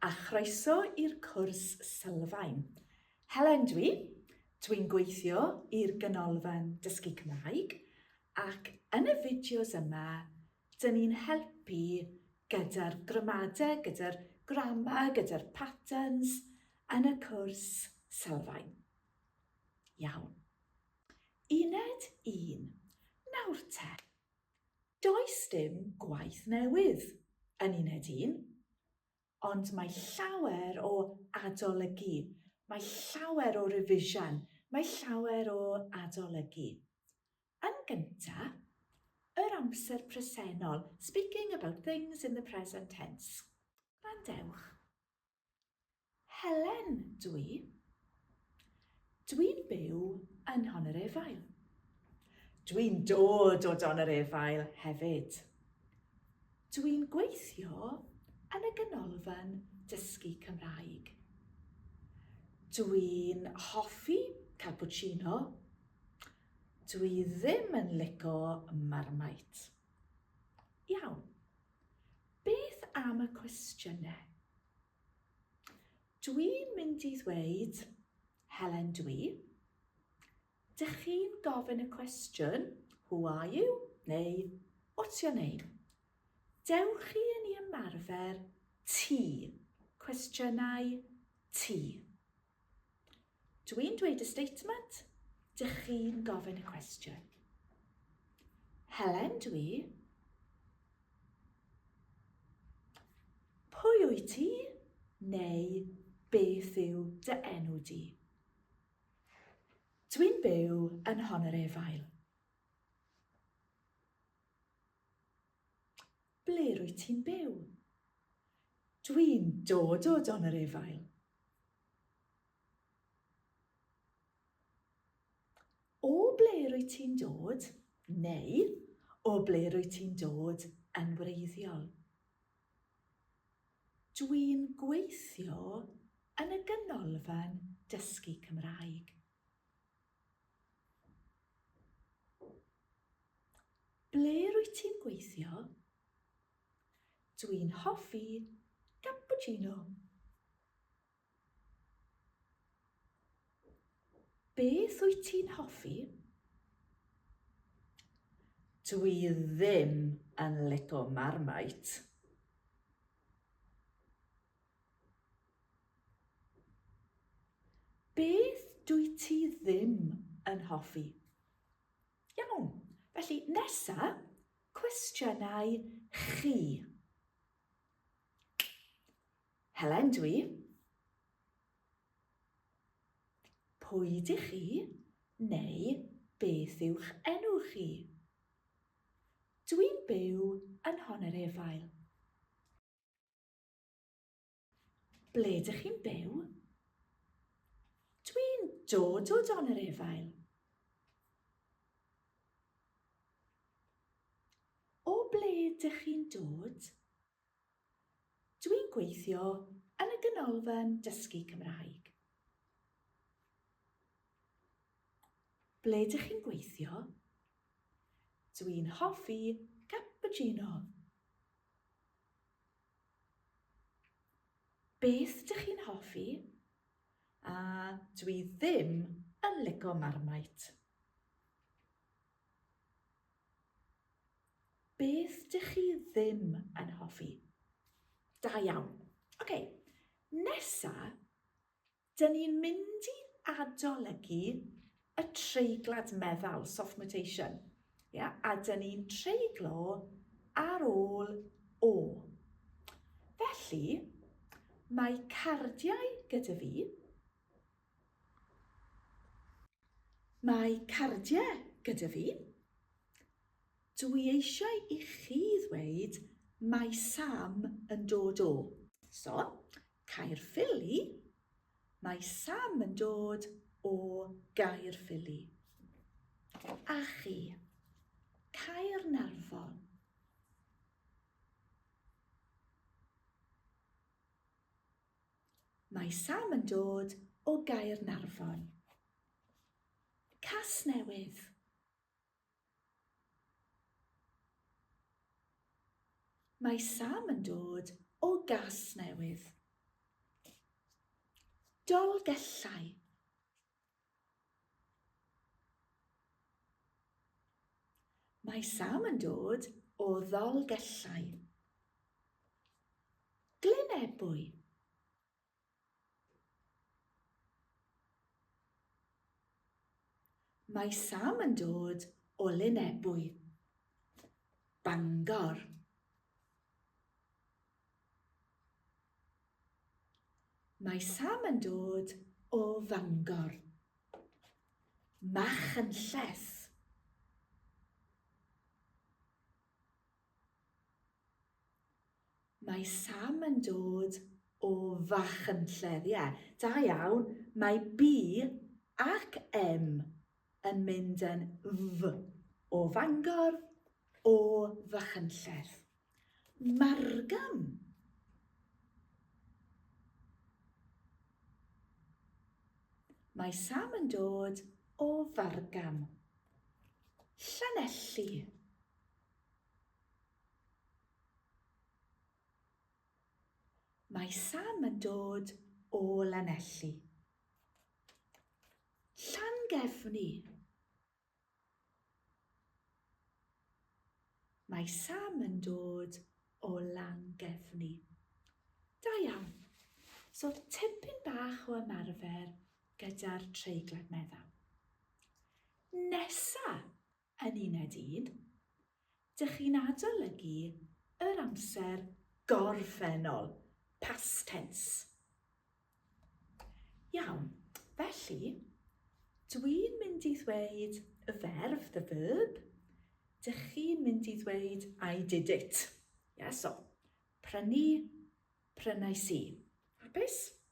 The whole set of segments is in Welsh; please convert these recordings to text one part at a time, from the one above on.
A chroeso i'r cwrs sylfaen. Helen dwi, dwi'n gweithio i'r Ganolfan Dysgu Cymraeg ac yn y fideos yma, dyn ni'n helpu gyda'r gramadeg, gyda'r grammar, gyda'r patterns yn y cwrs sylfaen. Iawn. Uned 1. Nawr te, Does dim gwaith newydd yn uned un, ond mae llawer o adolygu, mae llawer o rifisian, mae llawer o adolygu. Yn gyntaf, yr amser presennol, speaking about things in the present tense. Gwrandewch. Helen, dwi. Dwi'n byw yn Hon yr Efail. Dwi'n dod o Don yr Efail hefyd. Dwi'n gweithio yn y Ganolfan Dysgu Cymraeg. Dwi'n hoffi cappuccino. Dwi ddim yn lico marmite. Iawn. Beth am y cwestiynau? Dwi'n mynd i ddweud, Helen dwi. Dych chi'n gofyn y cwestiwn, who are you? Neu, what's your name? Dewch chi yn i ymarfer ti, cwestiynau ti. Dw i'n dweud y statement, dych chi'n gofyn y cwestiwn. Helen dwi. Pwy wyt ti? Neu beth yw dy enw di? Dwi'n byw yn hon yr efail. Ble rwyt ti'n byw? Dwi'n dod o Don yr Efail. O ble rwyt ti'n dod? Neu, o ble rwyt ti'n dod yn wreiddiol? Dwi'n gweithio yn y Ganolfan Dysgu Cymraeg. Ble rwyt ti'n gweithio? Dwi'n hoffi cappuccino. Beth wyt ti'n hoffi? Dwi ddim yn lico Marmite. Beth dwyt ti ddim yn hoffi? Iawn, felly nesa, cwestiynau chi. Helen dw i. Pwy dych chi neu beth yw'ch enw chi? Dw i'n byw yn Honerefail. Ble dych chi'n byw? Dwi'n dod o dan yr efail. O ble dych chi'n dod? Dwi'n gweithio yn y Ganolfan Dysgu Cymraeg. Ble ydych chi'n gweithio? Dwi'n hoffi cappuccino. Beth dych chi'n hoffi? A, dw i ddim yn lico marmite. Beth dych chi ddim yn hoffi? Da iawn. Ok, nesa, Dyn ni'n mynd i adolygu y treiglad meddal, soft mutation, ia? a dyn ni'n treiglo ar ôl o. Felly, mae cardiau gyda fi. Mae cardiau gyda fi. Dw i eisiau i chi ddweud mae Sam yn dod o. So, Caerffili, Mae Sam yn dod o Gaerffili. A chi? Caernarfon. Mae Sam yn dod o Gaernarfon. Casnewydd. Mae Sam yn dod o Gasnewydd. Dolgellau. Mae Sam yn dod o Ddolgellau. Glyn Ebwy. Mae Sam yn dod o Lyn Ebwy, Bangor. Mae Sam yn dod o Fangor. Machynlleth. Mae Sam yn dod o Fachynlleth, ie, da iawn, mae B ac M yn mynd yn F, o Fangor, o Fachynlleth. Margam! Mae Sam yn dod o Fargam. Llanelli. Mae Sam yn dod o Lanelli. Llangefni. Mae Sam yn dod o Langefni. Da iawn. So tipyn bach o ymarfer gyda'r treiglad meddal. Nesa, Yn uned un, dych chi'n adolygu yr amser gorffennol, past tense. Iawn, felly, dwi'n mynd i ddweud y ferf, the verb, dych chi'n mynd i ddweud I did it. Ia, so, prynu, prynais i. Hapus?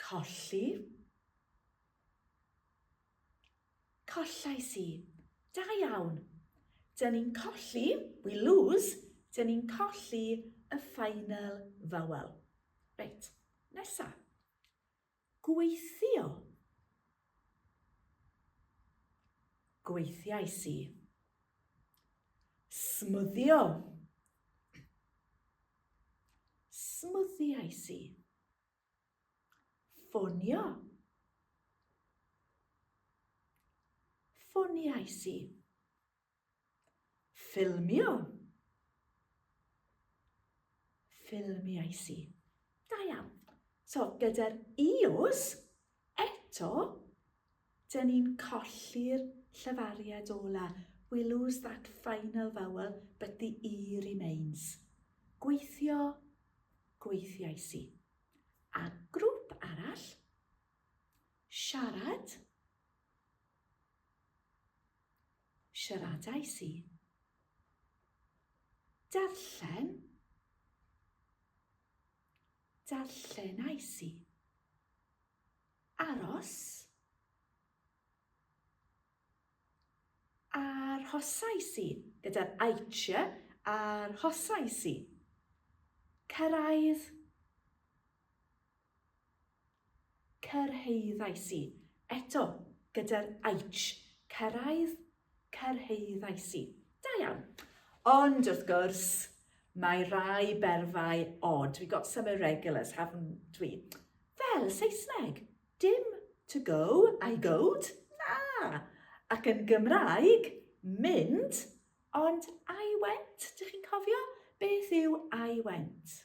Colli. Collais i. Da iawn. Dyn ni'n colli, we lose, dyn ni'n colli y final vowel. Reit, nesa. Gweithio. Gweithiais i. Smwddio. Smwddiais i. Ffonio. Ffoniais i. Ffilmio. Ffilmiais i. Da iawn. So, gyda'r ios, Eto, dyn ni'n colli'r llefariad ola, we lose that final vowel, but the e remains. Gweithio, gweithiais i. A grŵp arall, siarad, siaradais i. Darllen, Darllen ais i. Aros. Arhosais i, gyda'r aitch, arhosais i. Cyrraedd. Cyrhaeddais i, eto, gyda'r aitch, cyrraedd, cyrhaeddais i. Da iawn. Ond, wrth gwrs, mae rai berfau odd, we got some irregulars, haven't we? Fel Saesneg, dim to go, I goed, na! Ac yn Gymraeg, mynd, ond I went, dych chi'n cofio? Beth yw I went?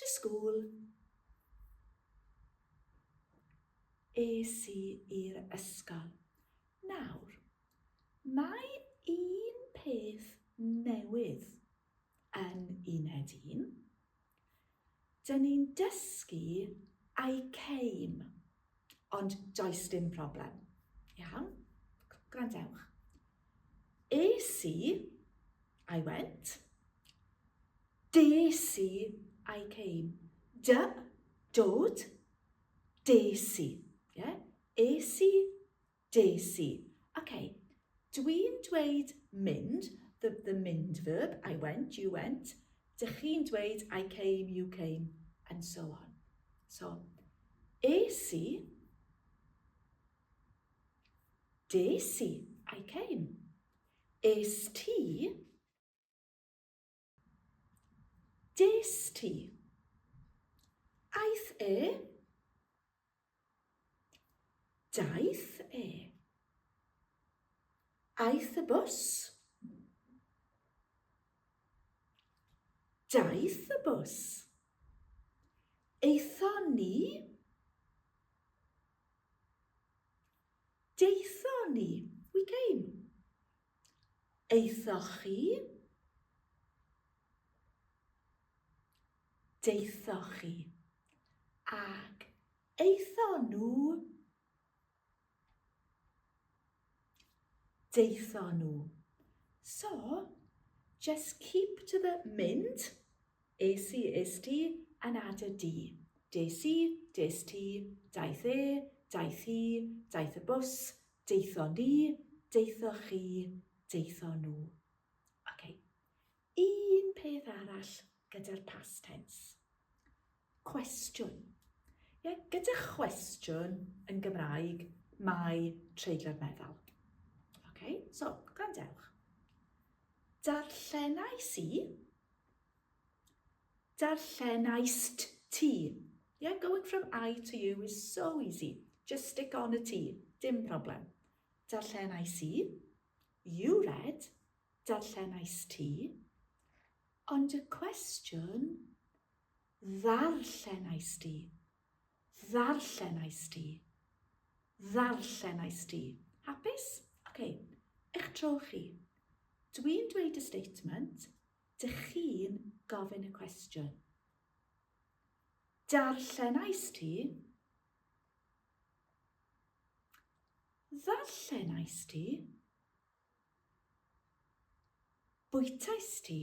To school. Es i i'r ysgol. Nawr, mae un peth newydd yn uned un. Dyn ni'n dysgu I came Ond does dim problem. Iawn? Gwrandewch. Es i, I went. Des i, I came. Dy, dod. Des i. Yeah? Es i, Des i. Ok, dwi'n dweud mynd, the, the mynd verb, I went, you went, dych chi'n dweud I came, you came, and so on. So, es i, des i, I came. Es ti, Des ti. Aeth e. Daeth e. Aeth y bws. Daeth y bws. Eitho ni. Daethon ni, we came. Aethoch chi? Daethoch chi. Ac aethon nhw? Daethon nhw. So, just keep to the mynd. Es i, es ti, anada di. Des i, des ti, daeth e, daeth hi, daeth y bws, daethon ni, daethoch chi, daethon nhw. Ok, un peth arall gyda'r past tense. Cwestiwn. Ie, gyda chwestiwn yn Gymraeg, mae treiglo'r meddal. Ok, so, gwrandewch. Darllenais i, Darllenaist ti. Yeah, going from I to you is so easy. Just stick on y ti. Dim problem. Darllenais i. You read. Darllenais ti. Ond y cwestiwn, ddarllenais di. Ddarllenais di. Ddarllenais di. Hapus? OK. Eich tro chi. Dwi'n dweud y statement, dych chi'n gofyn y cwestiwn. Darllenais ti? Ddarllenais ti? Bwytais ti?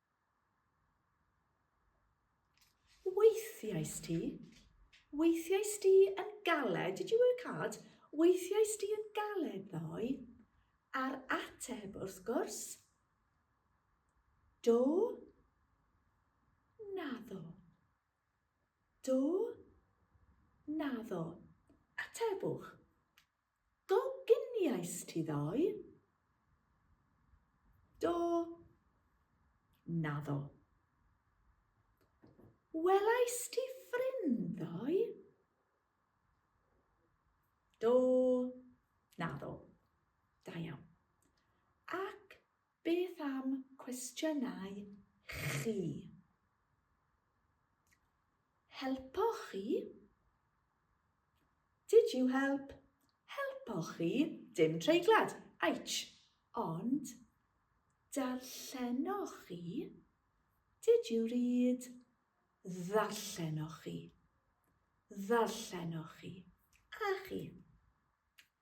Weithiais ti? Weithiais ti yn galed? Did you work hard? Weithiais ti yn galed ddoe? A'r ateb, wrth gwrs, do, naddo. Do, naddo. Atebwch. Do gyniais ti ddoe? Do. Naddo. Welais ti ffrind ddoe? Do. Naddo. Da iawn. Ac Beth am cwestiynau chi? Helpoch chi? Did you help? Helpoch chi? Dim treiglad. Aich. Ond, darllenoch chi? Did you read? Ddarllenoch chi? Ddarllenoch chi? A chi?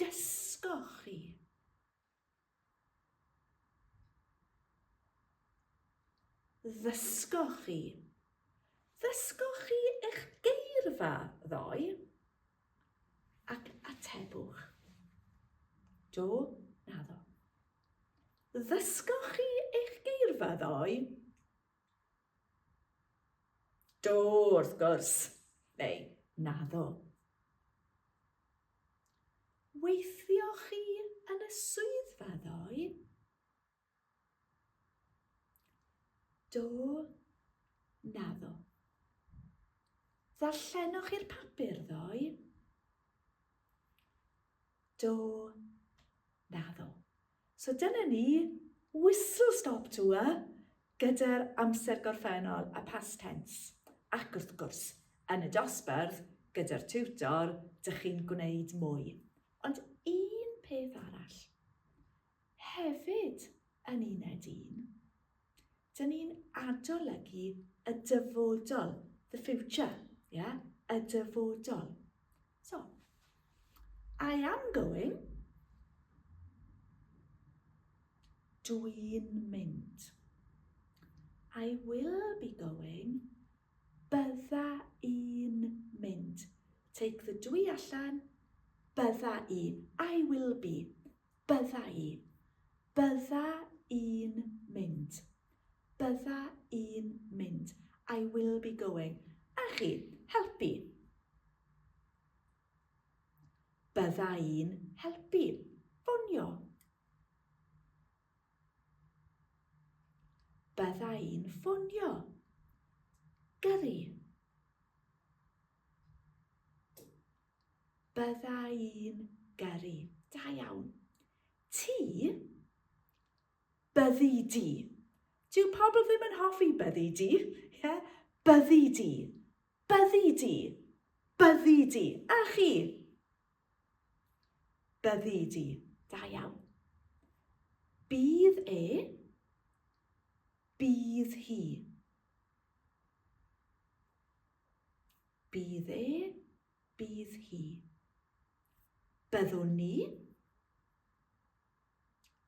Dysgoch chi. Ddysgoch chi. Ddysgoch chi eich geirfa ddoe? Ac atebwch. Do, naddo. Ddysgoch chi eich geirfa ddoe? Do, wrth gwrs, neu naddo. Weithio chi yn y swyddfa ddoe? Do, naddo. Ddarllenoch chi'r papur ddoe? Do, naddo. So dyna ni, whistle stop tour gyda'r amser gorffennol, y past tense. Ac wrth gwrs, yn y dosbarth, gyda'r tiwtor, dych chi'n gwneud mwy. Ond un peth arall, hefyd yn uned un, Dyn ni'n adolygu y dyfodol, the future, yeah? y dyfodol. So, I am going. Dwi'n mynd. I will be going. Bydda i'n mynd. Take the dwi allan. Bydda i. I will be. Bydda i. Bydda i'n mynd. Bydda i'n mynd. I will be going. A chi, helpu. Bydda i'n helpu. Ffonio. Bydda i'n ffonio. Gyrru. Bydda i'n gyrru. Da iawn. Ti? Byddi di. Dyw pobl ddim yn hoffi byddi di. Yeah? Byddi di. Byddi di. Byddi di. A chi? Byddi di. Da iawn. Bydd e. Bydd hi. Bydd e, bydd hi. Byddwn ni.